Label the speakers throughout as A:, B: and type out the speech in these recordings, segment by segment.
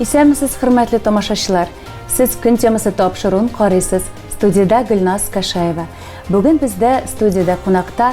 A: Исәнмесез, хөрмәтле тамашачылар. Сез көн темасы тапшыруын карыйсыз. Студиядә Гөлназ Кашаева. Бүген бездә студиядә кунакта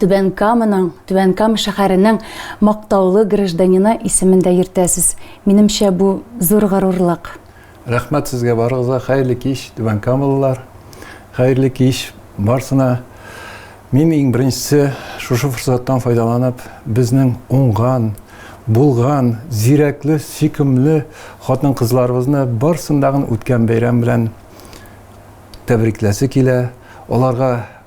A: Түбән Каманың, Түбән Кама шәһәренең мактаулы гражданины исемен дә йөртәсез. Минемчә, бу зур горурлык. Рәхмәт сезгә
B: барыгызга. Хәерле кич, Түбән Камалылар. Хәерле кич барсына. Мин иң беренчесе шушы форсаттан файдаланып, безнең уңган, булган, зирәкле, сөйкемле хатын-кызларыбызны барсын дагын үткән бәйрәм белән тәбрикләсе килә. Аларга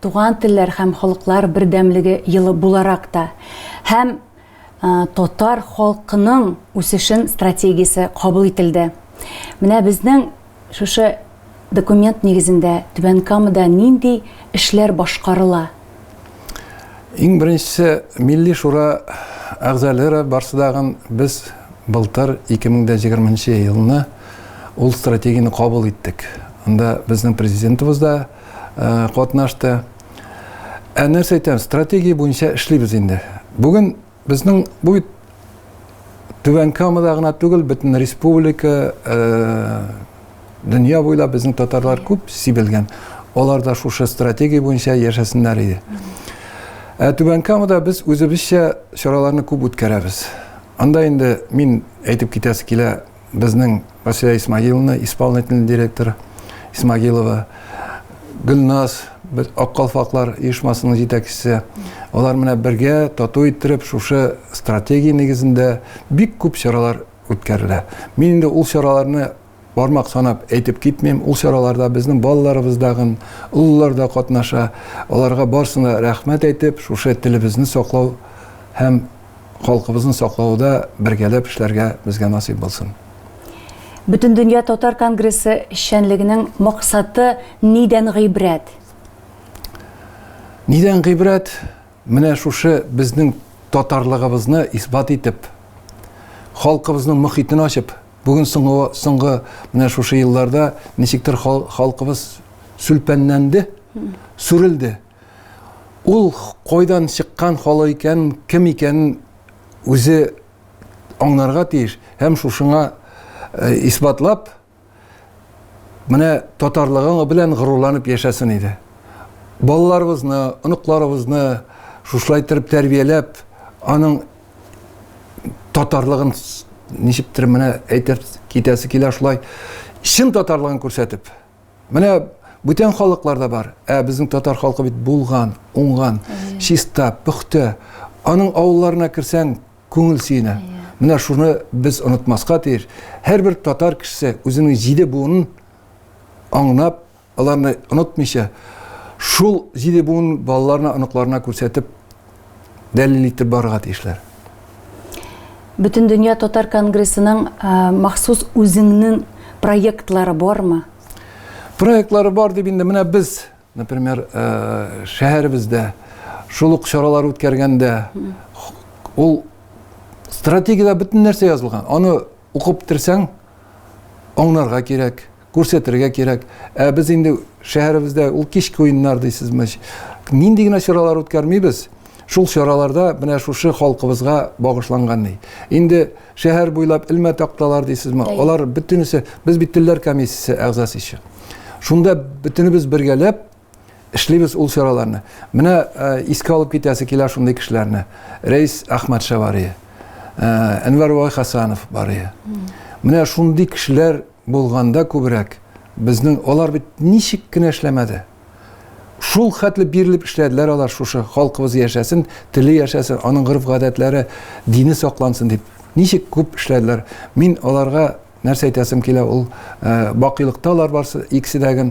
A: Туган телләр һәм халыклар бердәмлеге елы буларак та һәм татар халкының үсешен стратегиясе кабул ителде. Менә безнең шушы документ нигезендә Түбән Камада нинди эшләр башкарыла?
B: Иң беренчесе Милли шура әгъзалары барсы дагын без былтыр 2020 елны ул стратегияне кабул иттек. Анда безнең президентыбыз да, катнашты. Ә нәрсә әйтәм, стратегия буенча эшлибез инде. Бүген безнең бу бит Түбән Камада гына түгел, бөтен республика, дөнья буйлап безнең татарлар күп сибелгән. Алар да шушы стратегия буенча яшәсеннәр иде. Ә Түбән Камада без үзебезчә чараларны күп үткәрәбез. Анда инде мин әйтеп китәсе килә, Безнең Василия Исмагиловна, исполнительный директор Исмагилова, Гөлназ, без Аккалфаклар оешмасының җитәкчесе. Алар менә бергә тату иттереп шушы стратегия нигезендә бик күп чаралар үткәрелә. Мин инде ул чараларны бармак санап әйтеп китмим. Ул чараларда безнең балаларыбыз дагын, олылар да катнаша. Аларга барсына рәхмәт әйтеп, шушы телебезне саклау һәм халкыбызны саклауда бергәләп эшләргә безгә насыйп булсын.
A: Бөтендөнья татар конгрессы эшчәнлегенең максаты нидән гыйбрәт?
B: Нидән гыйбрәт? Менә шушы безнең татарлыгыбызны исбат итеп, халкыбызның мөхитен ачып, бүген соңгы, соңгы менә шушы елларда ничектер халкыбыз сүлпәнләнде, сүрелде. Ул кайдан чыккан халы икән, кем икәнен үзе аңларга тиеш һәм шушыңа исбатлап, менә татарлыгың белән горурланып яшәсен иде. Балаларыбызны, оныкларыбызны шушылай иттереп тәрбияләп, аның татарлыгын ничектер менә әйтеп китәсе килә шулай, чын татарлыгын күрсәтеп. Менә бүтән халыкларда бар, ә безнең татар халкы бит булган, уңган, чиста, пөхтә. Аның авылларына керсәң, күңел сөенә. Менә шуны без онытмаска тиеш. Һәрбер татар кешесе үзенең җиде буынын аңнап, аларны онытмыйча, шул җиде буын балаларына, оныкларына күрсәтеп, дәлил итеп барырга тиешләр.
A: Бөтендөнья татар конгрессының махсус үзеңнең проектлары бармы? Проектлары
B: бар дип инде менә без, например, шәһәребездә шул ук чаралар үткәргәндә ул стратегиядә бөтен нәрсә язылган. Аны укып бетерсәң, аңларга кирәк. Күрсәтергә кирәк. Ә без инде шәһәребездә ул кичке уеннар дисезме, нинди генә чаралар үткәрмибез, шул чараларда менә шушы халкыбызга багышланган ни. Инде шәһәр буйлап элмә такталар дисезме, алар бөтенесе, без бит телләр комиссиясе әгъзасы ише. Шунда бөтенебез бергәләп эшлибез ул чараларны. Менә искә алып китәсе килә шундый кешеләрне. Рәис Әхмәтша барый. Әнвәр Вай Хасанов барый. Менә шундый кешеләр булганда күбрәк безнең алар бит ничек кенә эшләмәде. Шул хәтле бирелеп эшләделәр алар шушы халкыбыз яшәсен, теле яшәсен, аның гореф-гадәтләре, дине саклансын дип. Ничек күп эшләделәр. Мин аларга нәрсә әйтәсем килә ул бакыйлыкта алар барсы икесе дә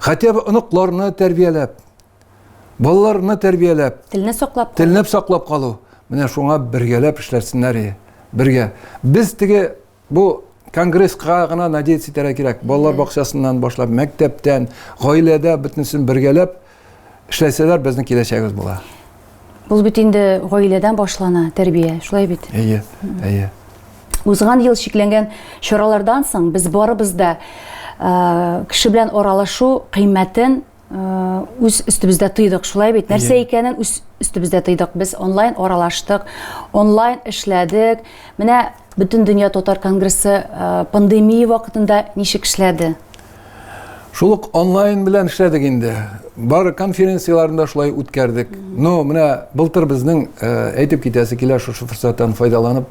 B: Хотя бы оныкларны тәрбияләп, балаларны тәрбияләп, телне саклап, телне
A: саклап калу.
B: Менә шуңа бергәләп эшләрсеннәр иде. Бергә. Без теге бу конгресска гына надеяться итәргә кирәк. Балалар бакчасыннан башлап, мәктәптән, гаиләдә бөтенесен бергәләп Эшләсәләр, безнең киләчәгебез була. Ул бит
A: инде гаиләдән башлана тәрбия, шулай бит? Әйе, әйе.
B: Узган
A: ел шикләнгән чаралардан соң без барыбыз да э, кеше белән аралашу кыйммәтен э, үз өстебездә тыйдык, шулай бит? Нәрсә икәнен үз өстебездә тыйдык. Без онлайн аралаштык, онлайн эшләдек. Менә бөтен дөнья татар конгрессы э, пандемия вакытында ничек эшләде?
B: Шул ук онлайн белән эшләдек инде. Бар конференцияләрен дә шулай үткәрдек. Но менә былтыр безнең э, әйтеп китәсе килә шушы форсаттан файдаланып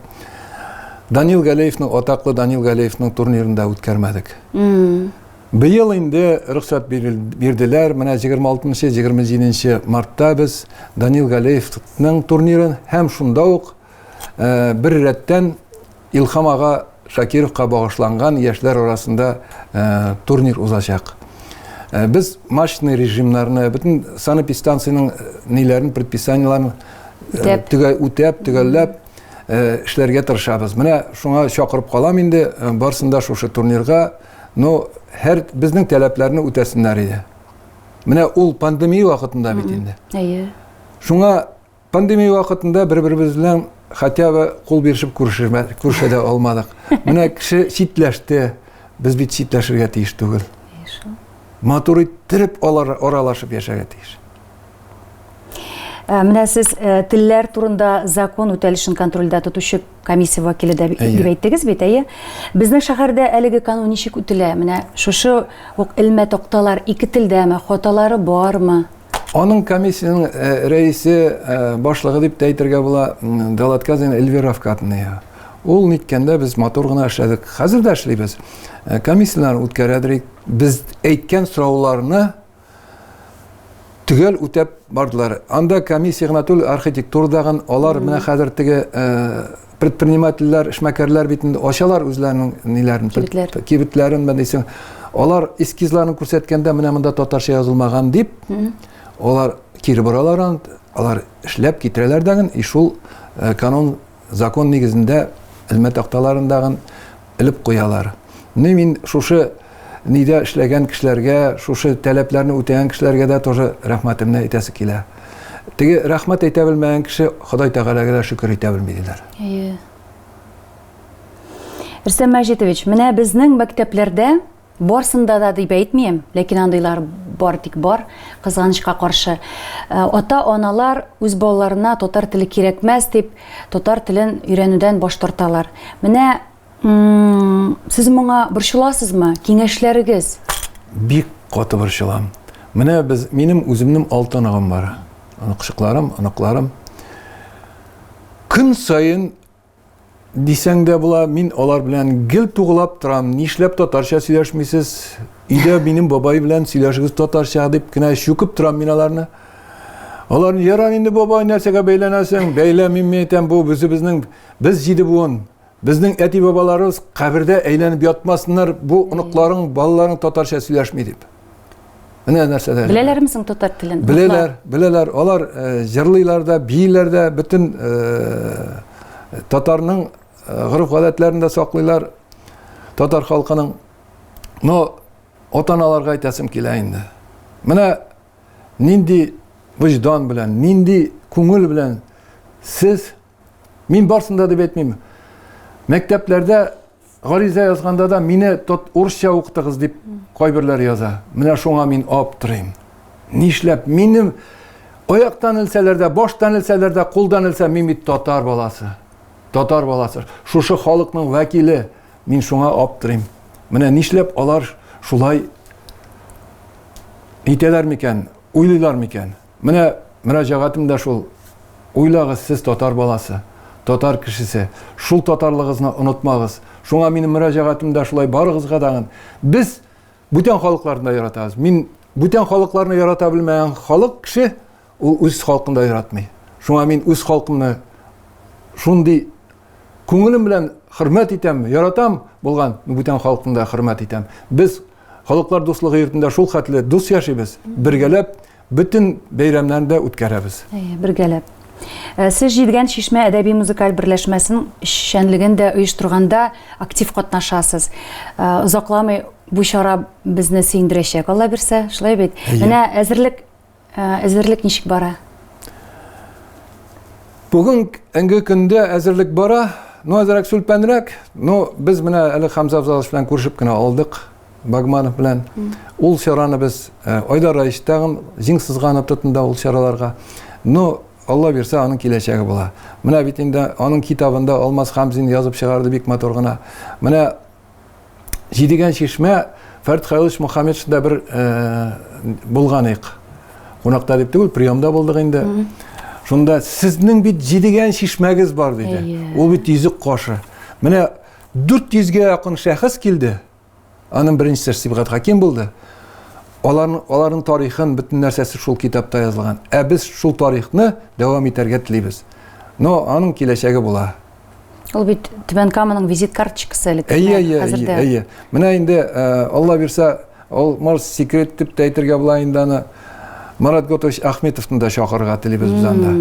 B: Данил Галеевның атаклы Данил Галеевның турнирын да үткәрмәдек. Быел инде рөхсәт бирделәр. Менә 26-27 мартта без Данил Галеевның турнирын һәм шунда ук э, бер рәттән Илһам ага Шакировка багышланган яшьләр арасында турнир узачак. Без мачтный режимнарны, бөтен санэпидстанциянең ниләрен, предписаниеләрен төгәл үтәп, төгәлләп эшләргә тырышабыз. Менә шуңа чакырып калам инде, барсын да шушы турнирга, но һәр безнең таләпләрне үтәсеннәр иде. Менә ул пандемия вакытында бит инде. Әйе.
A: Шуңа
B: Пандемия вакытында бер-беребез белән хотя бы кул бирешеп күрешә дә алмадык. Менә кеше читләште, без бит читләшергә тиеш түгел. Матур иттереп аралашып яшәргә тиеш. Ә,
A: менә сез ә, телләр турында закон үтәлешен контрольдә тотучы комиссия вәкиле дә дип әйттегез бит, әйе? Безнең шәһәрдә әлеге канун ничек үтелә? Менә шушы ук элмә токталар ике телдәме, хаталары бармы? Аның
B: комиссиянең э, рәисе, э, башлыгы дип тә әйтергә була, Далатказин Эльвира Фкатная. Ул ниткәндә без матур гына эшләдек. Хәзер дә эшлибез. Э, комиссияләр үткәрәдерик. Без әйткән сорауларны төгәл үтәп бардылар. Анда комиссия гына түгел, архитектурадагы алар менә хәзер теге предпринимательләр, эшмәкәрләр бит инде ачалар үзләренең ниләрен, кибетләрен, кибетләрен мәдисең. Алар эскизларын күрсәткәндә менә монда татарча язылмаган дип, алар кире боралар аны, алар эшләп китерәләр дәген, и шул э, канун закон нигезендә элмә такталарындагын элеп куялар. Менә мин шушы нидә эшләгән кешеләргә, шушы таләпләрне үтәгән кешеләргә дә тоже рәхмәтемне әйтәсе килә. Теге рәхмәт әйтә белмәгән кеше Ходай Тәгаләгә дә шөкер итә белми диләр. Әйе.
A: Рөстәм Мәҗитович, менә безнең мәктәпләрдә Барсында да дип әйтмим, ләкин андыйлар бар тик бар, кызганычка каршы. Э, ата-аналар үз балаларына татар теле кирәкмәс дип, татар телен өйрәнүдән баш тарталар. Менә сез моңа борчыласызмы? Киңәшләрегез? Бик
B: каты борчылам. Менә без минем үземнең алты аныгым бар. Оныкчыкларым, оныкларым. Көн саен Дисәң дә була, мин алар белән гел тугылап торам. Нишләп татарча сөйләшмисез? Өйдә минем бабай белән сөйләшегез татарча дип кенә чүкеп торам мин аларны. Алар яра инде бабай нәрсәгә бәйләнәсең? Бәйләмим мин әйтәм, бу безнең без җиде буын. Безнең әти-бабаларыбыз кабердә әйләнеп ятмасыннар, бу оныкларың, балаларың татарча сөйләшми дип. Менә нәрсәләр. Беләләрме соң татар телен?
A: Беләләр, беләләр.
B: Алар э, җырлыйлар да, бииләр дә, бөтен э, татарның э, гореф-гадәтләрен дә саклыйлар. Татар халкының. Но ата-аналарга әйтәсем килә инде. Менә нинди вөҗдан белән, нинди күңел белән сез Мин барсын да дип әйтмим. Мәктәпләрдә гариза язганда да мине тот урысча укытыгыз дип кайберләр яза. Менә шуңа мин аптырыйм. Нишләп минем аяктан илсәләр дә, баштан илсәләр дә, кулдан илсә мин бит татар баласы. Татар баласы. Шушы халыкның вәкиле. Мин шуңа аптырыйм. Менә нишләп алар шулай итәләр микән, уйлыйлар микән? Менә мөрәҗәгатем дә шул. Уйлагыз, сез татар баласы, татар кешесе. Шул татарлыгызны онытмагыз. Шуңа минем мөрәҗәгатем дә шулай барыгызга дагын. Без бүтән халыкларны да яратабыз. Мин бүтән халыкларны ярата белмәгән халык кеше ул үз халкын да яратмый. Шуңа мин үз халкымны шундый күңелем белән хөрмәт итәм, яратам булган бүтән халкымны да хөрмәт итәм. Без Халыклар дуслыгы йортында шул хәтле дус яшибез, бергәләп бөтен бәйрәмнәрне дә үткәрәбез. Әйе, бергәләп.
A: Э, сез җидгән чишмә әдәби музыкаль берләшмәсен эшчәнлеген дә оештырганда актив катнашасыз э, озакламый бу чара безне сөендерәчәк алла бирсә шулай бит менә әзерлек Әзерлек ничек бара?
B: Бүген инге көндә әзерлек бара. Ну, әзерәк сүлпәнрәк. Ну, без менә әле Хамза Абзалович белән күрешеп кенә алдык. Багманов белән. Ул чараны без э, Айдар Раич тагын җиң сызганып тотында ул чараларга. Ну, Алла бирсә, аның киләчәге була. Менә бит инде аның китабында Алмаз Хамзин язып чыгарды бик матур гына. Менә Җидегән чишмә Фәрд Хайлович Мухаммедшда бер булганыйк. Кунакта дип түгел, приемда булдык инде. Шунда сезнең бит җидегән чишмәгез бар диде. Ул бит йөзек кашы. Менә 400 гә якын шәхес килде. Аның беренчесе Сибгат Хаким булды. Аларның аларның тарихын бөтен нәрсәсе шул китапта язылган. Ә без шул тарихны дәвам итәргә телибез. Но аның киләчәге була. Ул бит
A: Түбән Каманың визит карточкасы әле. Әйе, әйе, әйе, әйе. Менә инде
B: э, Алла бирсә, ул может секрет дип тә әйтергә була инде аны. Марат Готович Ахметовны да чакырырга телибез без анда.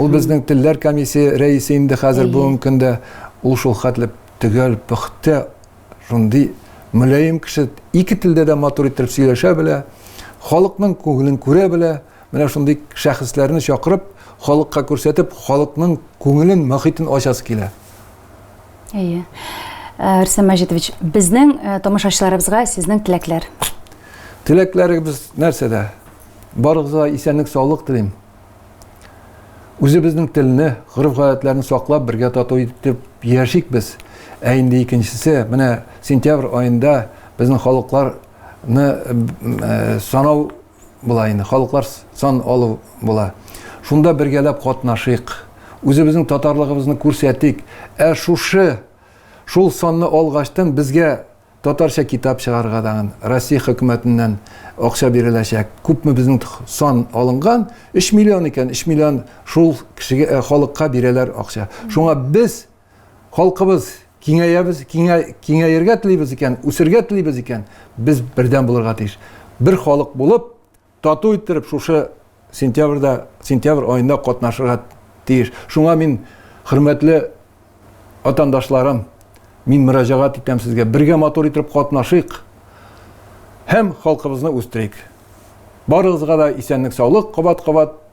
B: Ул безнең телләр комиссия рәисе инде хәзер бүгенге көндә. Ул шул хәтле төгәл, пөхтә шундый мөлаем кеше, ике телдә дә матур итеп сөйләшә белә, халыкның күңелен күрә белә, менә шундый шәхесләрне чакырып, халыкка күрсәтеп, халыкның күңелен, мохитен ачасы килә. Әйе.
A: Э, Рөстәм Мәҗитович, безнең э, тамашачыларыбызга сезнең теләкләр. Теләкләрегез
B: нәрсәдә? Барыгызга исәнлек, саулык телим. Үзебезнең телне, гореф-гадәтләрне саклап, бергә тату итеп яшик без. Ә инде икенчесе, менә сентябрь аенда безнең халыкларны санау була инде, халыклар сан алу була. Шунда бергәләп катнашыйк, үзебезнең татарлыгыбызны күрсәтик. Ә шушы, шул санны алгачтын безгә Татарча китап чыгарырга тагын Россия хөкүмәтеннән акча биреләчәк. Күпме безнең сан алынган? Өч миллион икән, өч миллион шул кешегә, халыкка бирәләр акча. Шуңа без, халкыбыз киңәябез, киңә, киңәергә телибез икән, үсергә телибез икән, без бердәм булырга тиеш. Бер халык булып, Тату иттереп шушы сентябрьдә, сентябрь аенда катнашырга тиеш. Шуңа мин, хөрмәтле ватандашларым, мин мөрәҗәгать итәм сезгә, бергә матур итеп катнашыйк һәм халкыбызны үстерик. Барыгызга да исәнлек-саулык, кабат-кабат.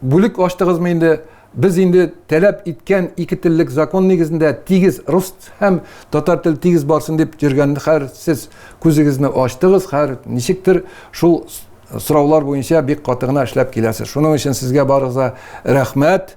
B: Бүлек ачтыгызмы инде? Без инде таләп иткән ике теллек закон нигезендә тигез рус һәм татар тел тигез барсын дип йөргән хәр сез күзегезне ачтыгыз, хәр ничектер шул сораулар буенча бик каты гына эшләп киләсез. Шуның өчен сезгә барыгызга рәхмәт.